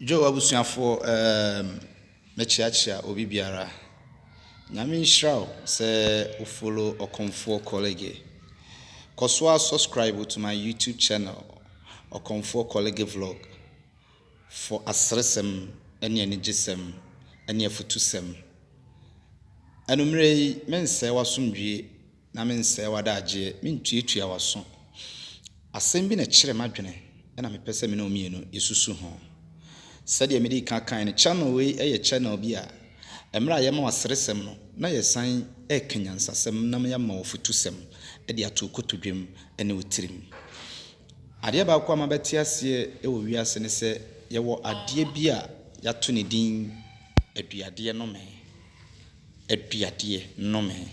Joe abusuafoɔ ehm mɛkyeakyea obi biara Nyame nhyira wo sɛ wo follow Ɔkomfoɔ Kɔlege Kɔso ara subscribe to my YouTube channel Ɔkomfoɔ Kɔlege Vlog for aseresɛm ne anigyesɛm ne afutusɛm Anummerɛ yi mensɛe w'asomdwie Na mensɛe w'adagyeɛ, mentuatua w'aso. Asɛm bi na ɛkyere m'adwene na mepɛ sɛ me ne wo mmienu yɛsusu ho. Sɛdeɛ medii kan kaeɛ no, channel wei yɛ channel bi a mmerɛ a yɛma wo aseresɛm no na yɛsan reka nyansasɛm na yɛama wo afutusɛm de ato wo kotodwam ne wo tirim. Adeɛ baako a mabɛte aseɛ wɔ wiase ne sɛ yɛwɔ adeɛ bi a yɛato ne din aduadeɛ nome. aduadeɛ nomee.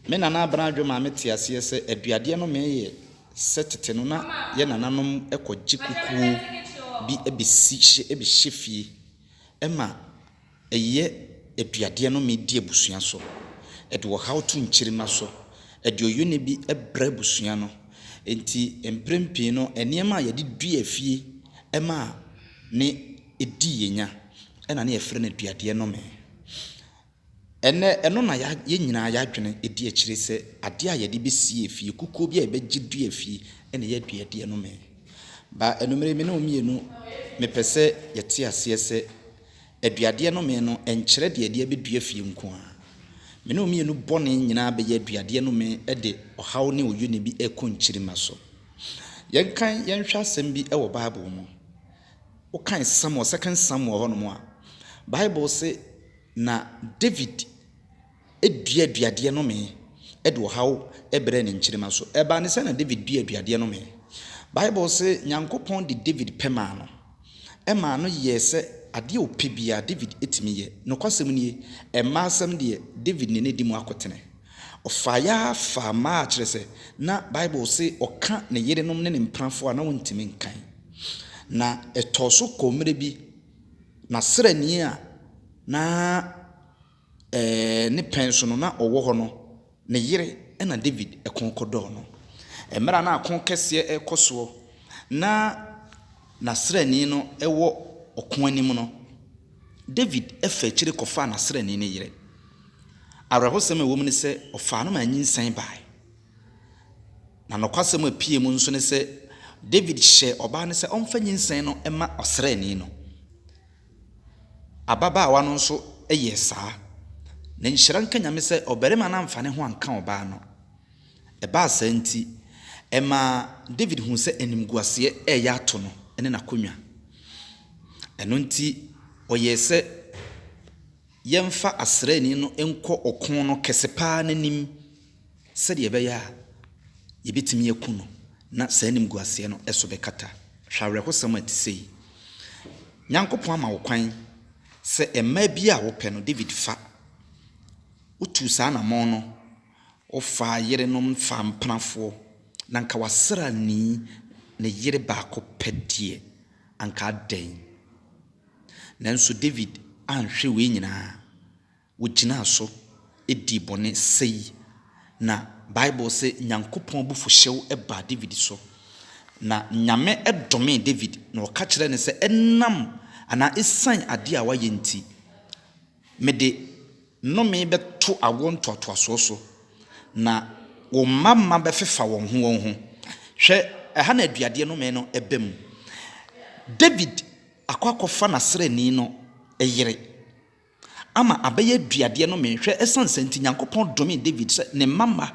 Me Nana Abena-Adwo maa me tee aseɛ sɛ aduadeɛ nomee yɛ sɛ tete no na yɛ nananom kɔgye kukuo bi bɛsi hye bɛhyɛ fie ma ɛyɛ aduadeɛ nomee di abusua so. Ɛde ɔhaw to nkyirimma so. Ɛde ɔyɔne bi brɛ abusua no. Enti mprempii no nneɛma a yɛde dua fie ma ne. di yɛnya na ne yɛfrɛ no aduadeɛ nnome. Ɛnnɛ ɛno na yɛn nyinaa yɛadwene di akyire sɛ adeɛ a yɛde bɛsie efie, kukuo bi a yɛbɛgye dua efie na ɛyɛ aduadeɛ nnome. Ba anumere me ne wo mmienu mepɛ sɛ yɛte aseɛ sɛ aduadeɛ nnome no ɛnkyerɛ deɛ yɛde abɛdua efie nko ara. Me ne wo mmienu bɔne nyinaa bɛyɛ aduadeɛ nnome de ɔhaw ne oyune bi rekɔ nkyirimma so. Yɛnkan yɛnhwɛ asɛm bi wɔ Bible mu. Wokan Samuel, Second Samuel hɔ nom a, Bible se, Na David dua aduadeɛ nomee de ɔhaw brɛɛ ne nkyirimma so. Ɛbaa ne sɛ na David dua aduadeɛ nomee. Bible se, Nyankopɔn de David pɛ maa no. Ɛmaa no yɛɛ sɛ adeɛ a ɔpɛ biara, David tumi yɛ. Nokwasɛm nie, mmaa asɛm deɛ, David ne no adi mu akotene. Ɔfaa yɛ ara faa mmaa, kyerɛ sɛ, na Bible se ɔka ne yerenom ne ne mpenafoɔ a na ɔntumi nkan. Na ɛtɔɔ so kɔɔ mmerɛ bi, n'asrani a na ne pɛn so no, na ɔwɔ hɔ no, ne yere na David ko kɔdɔɔ no. Mmerɛ a na ako kɛseɛ rekɔ soɔ na n'asrani no wɔ ɔko anim no, Dawid faa akyiri kɔfaa n'asraani no yere. Awerɛhosɛm a ɛwom ne sɛ ɔfaa no ma anyinsɛn bae. Na nokwasɛm a epue mu nso ne sɛ Dawid hyɛɛ ɔbaa no sɛ ɔmfa nyinsɛn no mma ɔsraani no. Ababaawa no nso yɛɛ saa. Na nhyira nka Nyame sɛ ɔbarima no amfa ne ho anka ɔbaa no. Ɛbaa saa nti, ɛmaa Dawid huu sɛ animguaseɛ reyɛ ato no ne n'akonnwa. Ɛno nti, ɔyɛɛ sɛ yɛmfa asraani no nkɔ ɔko no kɛse pa ara no anim sɛdeɛ ɛbɛyɛ a yɛbɛtumi aku no na saa animguaseɛ no so bɛkata. Hwɛ awerɛhosɛm a ɛte sei! Nyankopɔn ama wo kwan sɛ mmaa biara a wopɛ no, Dawid fa. Wotuu saa anamɔn no Ɔfaa yerenom faa mpenafoɔ, na anka w'asraani ne yere baako pɛ deɛ, anka adɛn? Nanso Dawid anhwere wei nyinaa. Ɔgyinaa so dii bɔne sɛi, na Bible se Nyankopɔn abufuhyew baa Dawid so. Na Nyame domee Dawid, na ɔka kyerɛɛ no sɛ ɛnam anaa esiane adeɛ a wayɛ nti, Mede nnome bɛto awoɔ ntoatoasoɔ so, na wo mma mma bɛfefa wɔn ho wɔn ho. Hwɛ, ɛha na aduadeɛ nnome no ba mu. Dawid akɔ akɔfa n'asraani no yere ama abɛyɛ aduadeɛ nnome. Hwɛ, ɛsiane saa nti, Nyankopɔn domee Dawid sɛ ne mma mma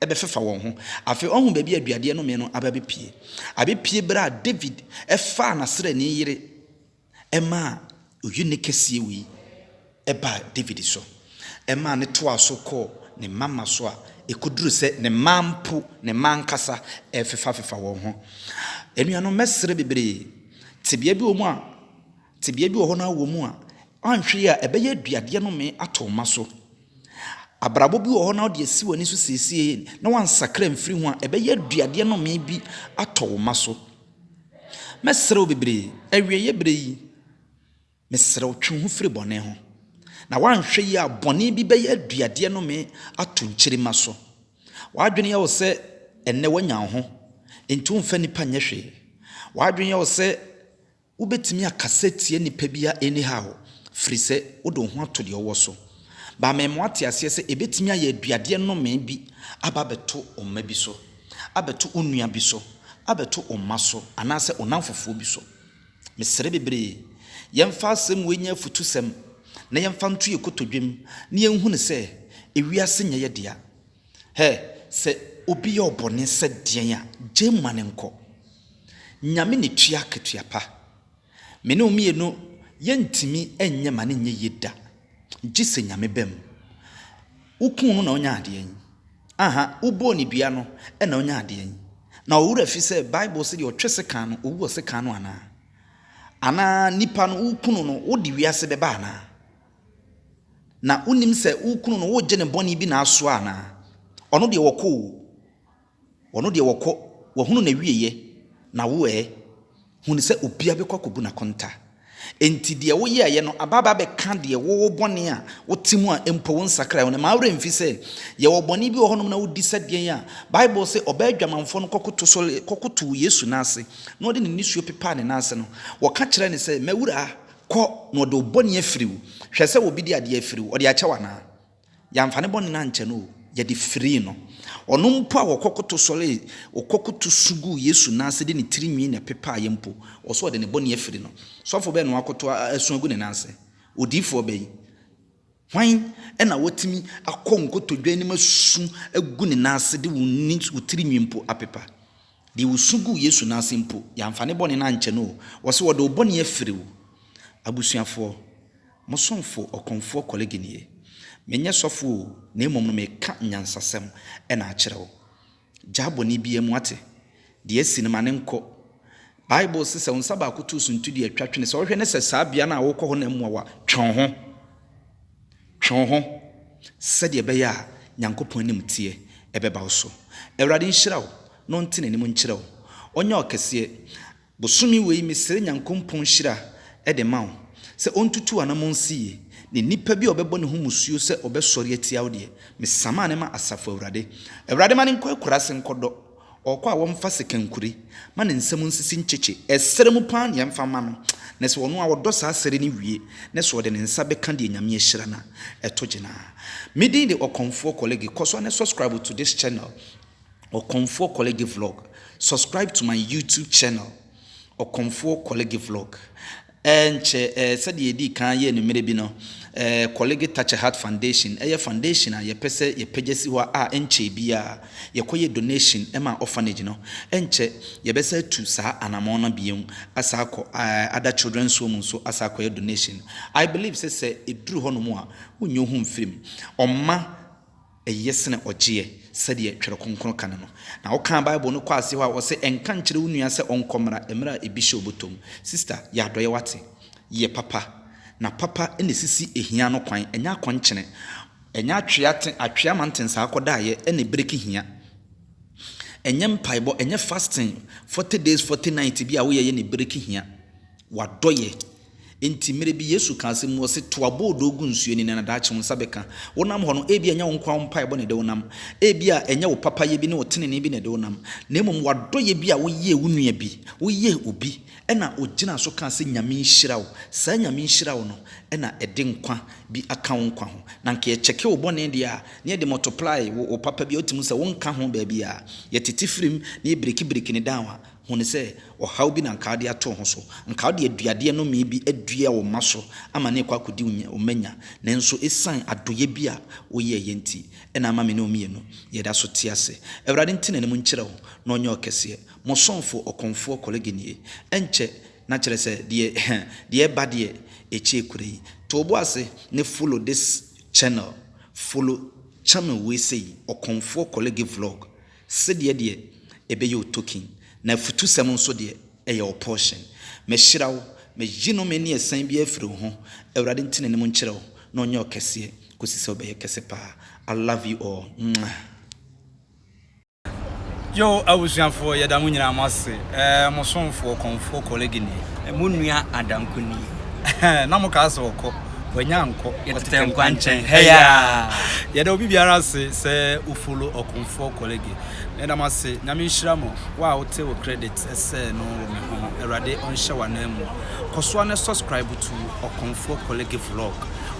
bɛfefa wɔn ho. Afei woahunu baabi a aduadeɛ nnome no aba abɛpue? Abɛpue berɛ a Dawid faa n'asraani yere. ɛmaa oyi nne kɛseɛ wei baa David so. Ɛmaa ne toaa so kɔɔ ne mma mma so a ɛkɔduru sɛ ne mma mpo, ne mma ankasa refefafefa wɔn ho. Anuanom, mɛsrɛ bebree, tebea bi wɔ mu a, tebea bi wɔ hɔ no ara wɔ mu a, anhwɛ yi a ɛbɛyɛ aduadeɛ nome ato mma so. Abrabɔ bi wɔ hɔ na wode asi w'ani so seesei na wansakra mfiri ho a, ɛbɛyɛ aduadeɛ nome bi atɔ wo mma so. Mɛsrɛ wo bebree, awieɛ berɛ yi, mesrɛ wo twe wo ho firi bɔne ho, na woanhwɛ yie a bɔne bi bɛyɛ aduadeɛ nome ato nkyirimma so. W'adwene yɛ wo sɛ ɛnnɛ woanya wo ho, enti womfa nnipa nyɛ hwee. W'adwene yɛ wo sɛ wobɛtumi akasa atia nnipa biara anyhow, firi sɛ wode wo ho ato deɛ wowɔ so. Baa me ma woate aseɛ sɛ ɛbɛtumi ayɛ aduadeɛ nome bi aba abɛto wo mma bi so. abɛto wo nua bi so, abɛto wo mma so, anaasɛ wo nnamfofoɔ bi so. Mesrɛ bebree, yɛmfa asɛm wei nyɛ afutusɛm, na yɛmfa nto yɛn kotodwem, na yɛnhunu sɛ ewiase nyɛ yɛ dea. Hɛ! Sɛ obi yɛ wo bɔne sɛ deɛn a, gyae mu ma no nkɔ. Nyame na ɛtua akatua pa. Me ne wo mmienu yɛntumi nyɛ ma no nyɛ yie da gye sɛ Nyame ba mu. Wo kuu no na ɔnya adeɛ yi ahaa wo bɔɔ no dua no na ɔnya adeɛ yi na ɔwura fi sɛ bible se deɛ ɔtwe sekan no ɔwu wɔ sekan no anaa? Anaa nipa no wo kunu no wo de wiase bɛba anaa? Na wo nim sɛ wo kunu no wo gye ne bɔne bi na asoa anaa? Ɔno deɛ ɔkɔ oo. Wɔn deɛ wɔkɔ, wɔahunu n'awieeɛ, na wo ɛ? Hunu sɛ obiara bɛkɔ akɔbu no akonta. Enti deɛ woyɛeɛ no aba aba abɛka deɛ wo, wo bɔne a wote mu a mpo wonsakraeɛ ho no. Mma wo werɛ mfi sɛ, yɛwɔ bɔne bi wɔ hɔnom na wodi sɛ deɛn a, Bible se ɔbaa adwamanfoɔ no kɔkoto sɔree, kɔkotoo Yesu nan ase, na ɔde ne nisuo pepaa ne nan ase no, wɔka kyerɛɛ no sɛ, M'Awuraa, kɔ, na wɔde wo bɔne afiri wo. Hwɛ sɛ obi de adeɛ afiri wo, ɔde akyɛ wo anaa? Yɛamfa ne bɔne no ankyɛ no o, yɛde firii no. Ɔno mpo a wɔkɔ koto sɔree, ɔkɔ koto su guu Yesu nan ase de ne tiri nwi na ɛpepaa yɛ mpo, ɔwɔ sɛ ɔde ne bɔne afiri no. Sɔfo bɛn na wɔakoto asu agu ne nan ase? Odiyifoɔ bɛn? Hwan na watumi akɔ nkotodwe anim asu agu ne nan ase de wo ne wo tiri nwi mpo apepa? Deɛ ɔsu guu Yesu nan ase mpo, yɛamfa ne bɔne no ankyɛ no o, ɔwɔ sɛ wɔde wo bɔne afiri wo. Abusuafoɔ, Mo somfo ɔkorɔmfoɔ Kɔlege nie. Menyɛ sɔfo o, na mmom no meka nyansasɛm na akyerɛ wo. Gyaa bɔne biara mu, woate? Deɛ asi no, ma no nkɔ. Bible se sɛ wo nsa baako to suntu deɛ, twa twene. Sɛ wohwɛ ne sɛ saa bea no a worekɔ hɔ no mmoa wo a, twe wo ho. Twe wo ho, sɛdeɛ ɛbɛyɛ a Nyankopɔn animteɛ ɛbɛba wo so. Awurade nhyira wo, na ɔnte n'anim nkyerɛ wo. Ɔnyɛ ɔkɛseɛ, Bosome wei mesrɛ Nyankompɔn nhyira de ma wo sɛ ɔntutu wo anamɔn nsi yie, na nipa bi a ɔbɛbɔ ne ho musuo sɛ ɔbɛsɔre atia wo deɛ, mesama no ma Asafo Awurade. Awurade ma no nkɔ akuraase nkɔ dɔ, ɔɔkɔ a wɔmfa sekankure, ma ne nsa mu nsisi nkyekye, ɛserɛ mu paa nea ɛmfa mma no, na sɛ ɔno a ɔdɔ saa sɛre no wie, na sɛ ɔde ne nsa bɛka deɛ Nyame ahyira no a, ɛto gyina. Me din de Ɔkɔmfoɔ Kɔlege, kɔ so ne subscribe to this channel Ɔkɔmfoɔ Kɔlege Vlog. Subscribe to my YouTube channel, Ɔkɔmfoɔ Kɔlege Vlog. Ɛnkyɛ ɛɛ sɛdeɛ yɛdii kan yɛɛ no mmerɛ bi no, ɛɛ Kɔlege Touch a Heart Foundation ɛyɛ foundation a yɛpɛ sɛ yɛpagya si hɔ a ɛnkyɛɛ biara yɛkɔyɛ donation maa orphanage no. Ɛnkyɛ yɛbɛsan atu saa anamɔn no bio asan akɔ ɛɛ other children's home nso asan akɔyɛ donation. I believe sɛ sɛ ɛduru hɔnom a, wonyi wo ho mfiri mu. Ɔmma. Eye sene ɔgyeɛ, sɛdeɛ Twerɛ Kronkron ka no no. Na wokaa Bible no kɔɔ aseɛ hɔ a, ɔse, Nka nkyerɛ wo nua sɛ ɔnkɔ mmra, mmerɛ a ebi hyɛ ɔbotɔ mu. Sista, yɛ adɔeɛ wate. Yɛ papa. Na papa na ɛsisi hia no kwan, ɛnyɛ akɔnkyene. Ɛnyɛ atwea te, atwea ma ntensaa akɔdaeɛ na ɛbreki hia. Ɛnyɛ mpaebɔ, ɛnyɛ fasting, forty days, forty nights bi a woyɛyɛ na ɛbreki hia. W'adɔeɛ. Enti, mmere bi Yesu kaa asɛm mu, ɔse, To aboodoo gu nsuo ani, na na daakye wo nsa bɛka. Wonam hɔ no, ebia ɛnyɛ wo nkoa wo mpaebɔ na ɛde wo nam. Ebia ɛnyɛ wo papayɛ bi ne wo tenenee bi na ɛde wo nam, na mmom w'adɔyɛ bi a woyɛɛ wo nua bi, woyɛɛ obi, ɛna ɔgyinaa so kaa sɛ, Nyame nhyira wo. Saa Nyame nhyira wo no na ɛde nkwa bi aka wo nkwa ho. Na anka yɛkyɛke wo bɔne deɛ a, na yɛde multiply wo papa bi a wotumi hu sɛ wonka ho baabiara. Yɛtete firim na yɛbirikibiriki no down a, Hu no sɛ ɔhaw bi na anka wode ato wo ho so. Anka wode aduadeɛ nomee bi adua wo mma so ama no rekɔ akɔdi wo nya, wo mma nya. Nanso ɛsiane adɔeɛ bi a woyɛeɛ nti na ama me ne wo mmienu, yɛda so te ase. Awurade nte n'anim nkyerɛ wo na ɔnyɛ wo kɛseɛ. Mo somfoɔ, ɔkɔmfoɔ Kɔlege nie. Ɛnkyɛ na kyerɛ sɛ deɛ deɛ ɛreba deɛ ɛkyɛ kura yi. To wo bo ase ne follow this channel. Follow channel wei sei, Ɔkɔmfoɔ Kɔlege Vlog. Sedeɛ deɛ ɛbɛyɛ o token na afutusɛm nso deɛ ɛyɛ o portion Mehyira wo meyi nome ne asiane biara afiri wo ho Awurade nte n'anim nkyerɛ wo na ɔnyɛ wo kɛseɛ kɔsi sɛ wobɛyɛ kɛse paa I love you all mwah. Yoo abusuafoɔ yɛda mo nyinaa mo ase ɛɛ mo somfoɔ kɔmfoɔ kɔlege nie. Mo nua adanko nie na mo kaa sɛ ɔkɔ. Wanya ankɔ. Yɛtetɛ nkwa nkyɛn hɛyaa. Yɛda obi biara ase sɛ wo follow Okonfoɔ Korlege. Meda mo ase. Nyame nhyira mo. Wo a wote wo credit sɛ no wɔ me ho no, Awurade ɔnhyɛ wo anan mu. Kɔsoa na subscribe to Okonfoɔ Korlege Vlog,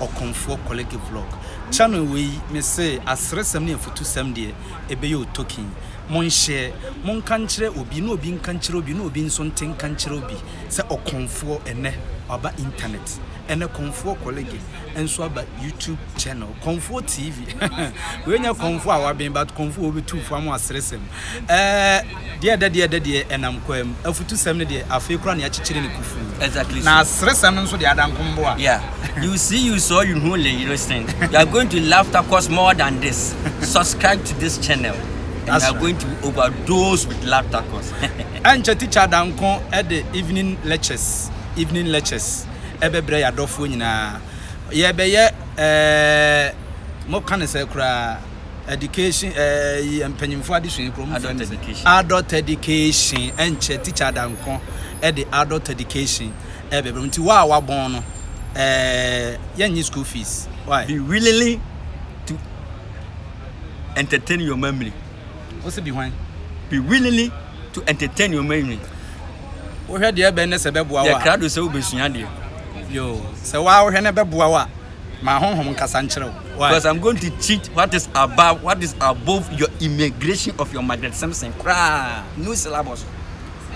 Okonfoɔ Korlege Vlog. Channel wei, me se aseresɛm ne afutusɛm deɛ, ɛbɛyɛ wo token. Monhyɛ, monka nkyerɛ obi, na obi nka nkyerɛ obi, na obi nso nte nka nkyerɛ obi. sɛ ɔkɔmfoɔ ɛnɛ waba internet ɛnɛ kɔmfoɔ kɔlege nso aba youtube channel kɔmfoɔ tv wei nyɛ kɔmfoɔ a waben but kɔmfoɔ wɔbɛtu fo ama aseresɛm ɛɛ deɛ ɛdɛ deɛ ɛdɛ deɛ ɛnam kwan mu afutusɛm no deɛ afei kora ne akyekyere ne kufu exactly na aseresɛm no nso deɛ adankomboa yeah you see you saw you know you listen you are going to laugh that cost more than this subscribe to this channel and That's you are right. going to overdose with laughter course. Ankyɛ Tikya Danko de Evening Lectures, Evening Lectures, bɛbrɛ yɛn adɔfoɔ nyinaa. Yɛrebɛyɛ eh, moka no sɛ koraa, Education eh, yi, mpanyinfoɔ adesua yi koraa, wɔfrɛ no sɛ Adult Education. Ankyɛ Tikya Danko de Adult Education bɛbrɛ mo. Nti wo a wabɔn no, eh, yɛnnye school fees. Why? Be willing to entertain your memory. Wo se bi hwan? Be willingly to entertain your many. Wohwɛ deɛ ɛbɛn ne sɛ ɛbɛboa wo a. Yɛ krado sɛ wobɛsua deɛ. Yo, sɛ wo a wohwɛ no ɛbɛboa wo a, ma honhom nkasa nkyerɛ wo. Why? Because I'm going to teach what is above, what is above your immigration of your Margaret Simpson koraa. New syllabus.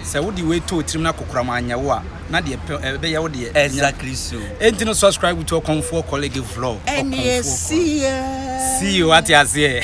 Sɛ wode wei too tirim na kokoram anyɛ wo a, na deɛ pɛ ɛbɛyɛ wo deɛ. Exactly so. Enti no subscribe to Ɔkɔmfoɔ Colleague Vlog. Ɛnneɛ see you. See you, ate aseɛ.